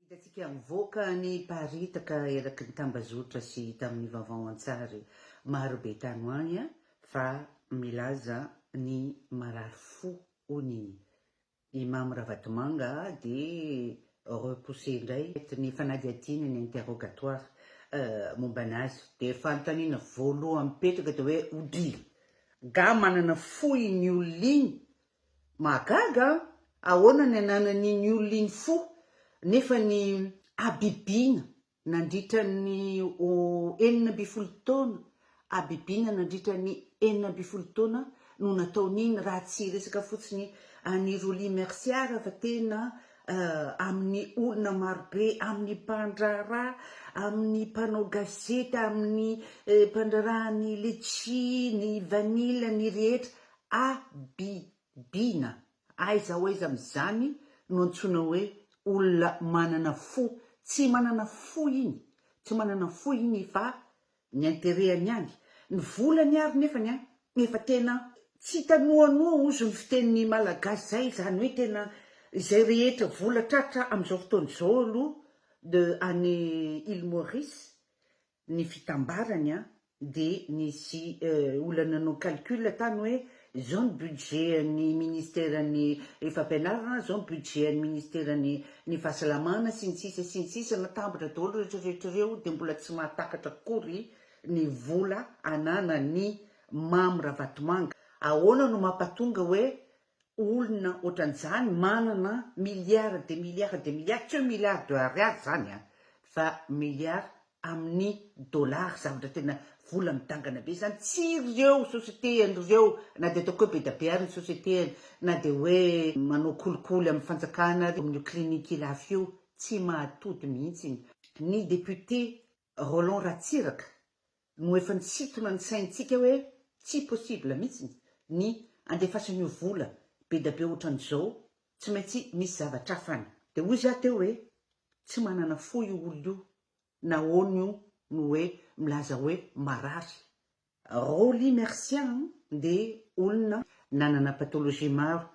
Hitantsika mivoaka ny mparitaka eraky ny tambazotra sy tamin'ny vaovao an-tsary maro be tany ho any fa milaza ny marary fo hono i Imam Ravatomanga dia repousser indray eto ny fanadihadiana ny interrogatoire mombana azy. Dia fanontaniana voalohany mipetraka dia hoe odila gah manana fo iny olona iny Mahagaga an! Ahoana ny ananan'iny olona iny fo nefa ny habibiana nandritra ny enina ambin'ny folo taona, habibiana nandritra ny enina ambin'ny folo taona no nataon'iny raha tsy resaka fotsiny an'i Rolly Mercia raha fa tena amin'ny olona marobe, amin'ny mpandraharaha, amin'ny mpanao gazety, amin'ny mpandraharaha ny letchie, ny vanille, ny rehetra Abibiana, aiza ho aiza amin'izany no antsoina hoe olona manana fo? Tsy manana fo iny, tsy manana fo iny fa ny interehany ihany. Ny volany ary nefany an, efa tena tsy hita noanoa ozy ny fitenin'ny Malagasy izay, izany hoe tena izay rehetra vola tratra amin'izao fotoana izao aloha de any Île Maurice ny fitambarany an, dia nisy olona nanao calcul tany hoe izao ny budget an'ny ministeran'ny fampianarana, izao ny budget an'ny ministeran'ny ny fahasalamana sy ny sisa sy ny sisa, natambatra daholo rehetra rehetra ireo dia mbola tsy mahatakatra akory ny vola ananan'ny Mamy Ravatomanga, ahoana no mampatonga hoe olona otran'izany manana milliards de milliards de milliards, tsy hoe milliards de ariary zany an, fa milliards amin'ny dollars, zavatra tena vola midangana be zany, tsy ireo société an'ireo na dia ataoko hoe be dia be ary ny société na dia hoe manao kolikoly amin'ny fanjakana ary amin'io clinique lafo io, tsy mahatody mihitsy ny députés Roland Ratsiraka no efa nisintona ny saintsika hoe tsy possible mitsiny ny andefasan'io vola bedabe otran'izao tsy maintsy misy zavatra hafa any. De hoy zah teo hoe tsy manana fo io olona io nahoana io no hoe milaza hoe marary Rolly Mercia dia olona nanana pathologie maro.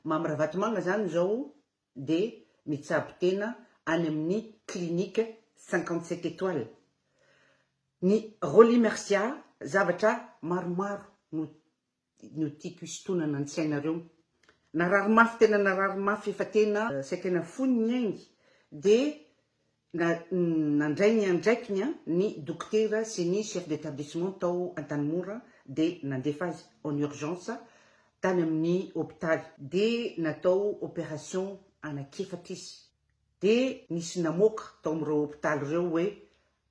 Mamy Ravatomanga izany izao dia mitsabo tena any amin'ny clinique cinquante sept étoiles. Ny Rolly Mercia zavatra maromaro no no tiako hisintonana an-tsainareo. Narary mafy tena narary mafy efa tena saika nafoiny ny ainy dia na nandray ny andraikiny an ny dokotera sy ny chef d'établissement tao Antanimora dia nandefa azy en urgence tany amin'ny hopitaly dia natao opération anak'efatra izy dia nisy namoaka tao amin'ireo hopitaly ireo hoe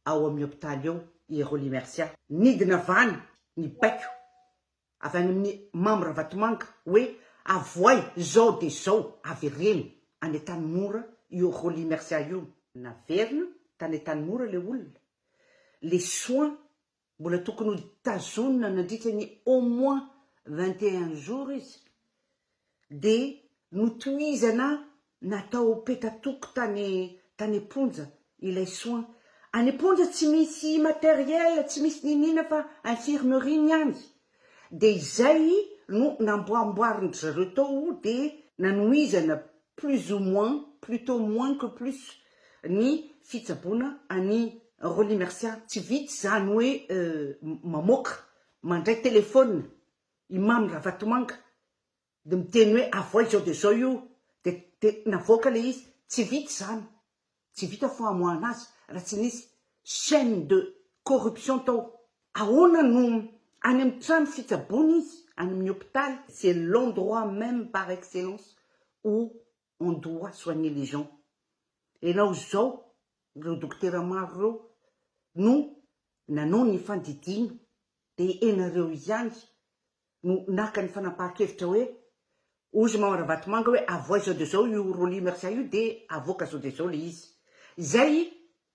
ao amin'ny hopitaly ao i Rolly Mercia. Nidina vany ny baiko avy any amin'i Mamy Ravatomanga hoe avoay izao dia izao avereno any Antanimora io Rolly Mercia io. Naverina tany Antanimora ilay olona, les soins Mbola tokony ho tazonina nandritra ny au moins vingt et un jours izy dia notohizana natao peta-toko tany tany am-ponja ilay soins. Any am-ponja tsy misy matériel, tsy misy niniana fa infirmerie miandry. Dia izay no namboamboarin-dry zareo tao dia nanohizana plus ou moins, plutôt moins que plus, ny fitsaboana an'i Rolly Mercia. Tsy vitsy izany hoe mamoaka, mandray telefaonina i Mamy Ravatomanga dia miteny hoe avoay izao dia izao io dia dia navoaka ilay izy. Tsy vitsy izany. Tsy vita famoahana azy raha tsy nisy chaine de corruption tao. Ahoana no any amin'ny trano fitsaboana izy any amin'ny hopitaly? C'est l'endroit même par excellence où on doit soigner les gens. Ianao izao, ireo dokotera maro ireo no nanao ny fandidiana dia ianareo ihany no naka ny fanapahan-kevitra hoe ozy Maman Ravatomanga hoe avoay izao dia izao io Rolly Mercia io dia avoaka izao dia izao ilay izy. Izay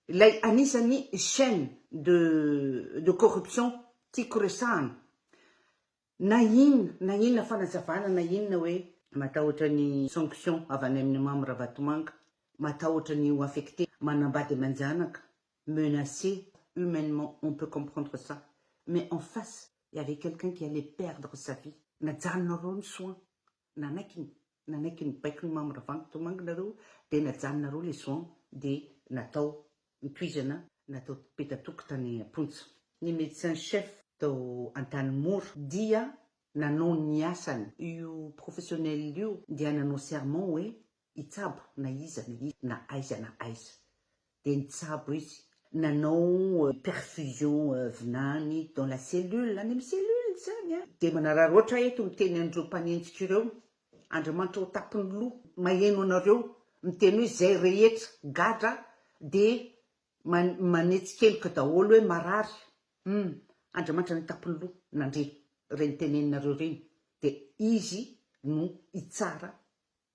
ilay anisan'ny chaine de de corruption tiako resahana. Na inona na inona fanazavana na inona hoe. Matahotra ny sanction avy any amin'ny Mamy Ravatomanga, matahotra ny ho affecté manambady aman-janaka menacé humainement on peut comprendre ça mais en face il y avait quelqu'un qui allait perdre sa vie najanona roany soin nanaiky ny nanaiky ny baiko ny mamy ravanto tomanga nareo dia najanona roa le soin dia natao nitohizana natao petatoky tany amponja ny medecin chef tao antanimora dia nanao ny asany io professionnel io dia nanao serment hoe hitsabo na iza na iza na aiza na aiza dia nitsabo izy nanao perfusion vinany dans la cellule any amin'ny cellule izany a! Dia manararoatra eto miteny an'ireo mpanenjika ireo Andriamanitra ao an-tampon'ny loha maheno anareo miteny hoe izay rehetra gadra dia manetsikeloka daholo hoe marary hum Andriamanitra any an-tampon'ny loha nandre ireny teneninareo ireny dia izy no hitsara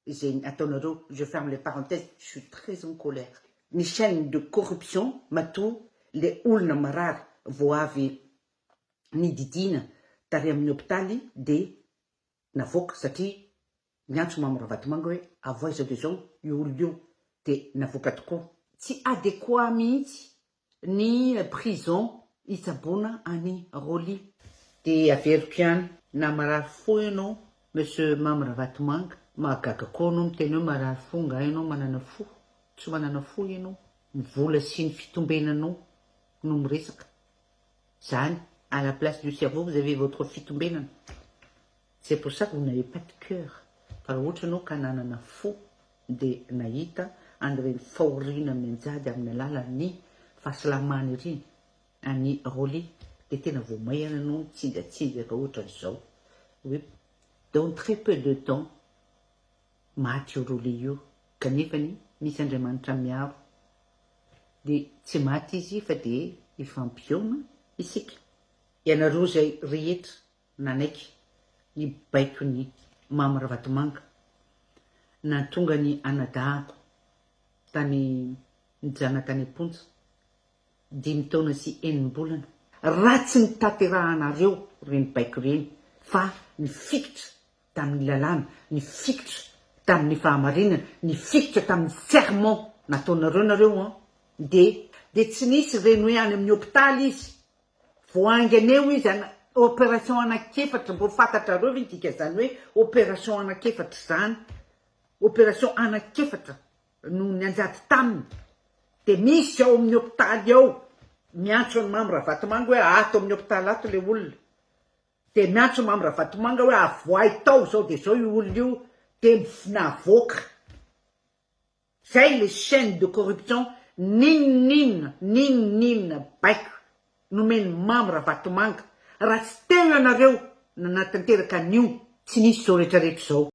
Zegny ataonareo je ferme le parenthèse je suis très en colère ny chaine de corruption matoa le olona marary vao avy nididiana tary amin'ny hopitaly de navoaka satria niantso mamo ravatomanga hoe avoay zao de zao io olona io de navoaka tokoa. Tsy adéquat mihitsy Ny prison hitsaboana an'i Rolly. Dia averiko ihany na marary fo ianao Monsieur Mamy Ravatomanga, mahagaga koa anao miteny hoe marary fo, angaha ianao manana fo? Tsy manana fo ianao, ny vola sy ny fitombenanao no miresaka, zany à la place du cerveau vous avez votre fitombenana, C'est pour ça que vous n'avez pas de cœur fa raha ohatra ianao ka nanana fo dia nahita an'ireny fahoriana mianjady amin'ny alalan'ny fahasalamana ireny an'i Rolly dia tena vao maihana ianao nitsinjatsinjaka ohatran'izao hoe dans très peu de temps maty io Rolly io kanefany misy Andriamanitra miaro dia tsy maty izy fa dia hifampihaona isika ianareo izay rehetra nanaiky ny baikon'i Mamy Ravatomanga nahatonga ny anadahako tany nijana tany am-ponja dimy taona sy enim-bolana. Raha tsy nitanterahanareo ireny baiko ireny fa nifikitra tamin'ny lalàna, nifikitra tamin'ny fahamarinana, nifikitra tamin'ny serment nataonareo nareo an, dia dia tsy nisy ireny hoe any amin'ny hopitaly izy Vao haingana eo izy an, opération anak'efatra, mbô fantatrareo ve ny dikan'izany hoe opération anak'efatra izany? Opération anak'efatra no nianjady taminy, dia misy ao amin'ny hôpitaly ao miantso an'i Mamy Ravatomanga hoe ato amin'ny hôpitaly ato ilay olona, dia miantso Mamy Ravatomanga hoe avoahy tao izao dia izao io olona io dia navoaka. Zay le chaine de corruption n'inon'inona n'inon'inona baiko nomen'i Mamy Ravatomanga raha tsy tegna nareo nanatanteraka an'io tsy nisy zao retraretra zao.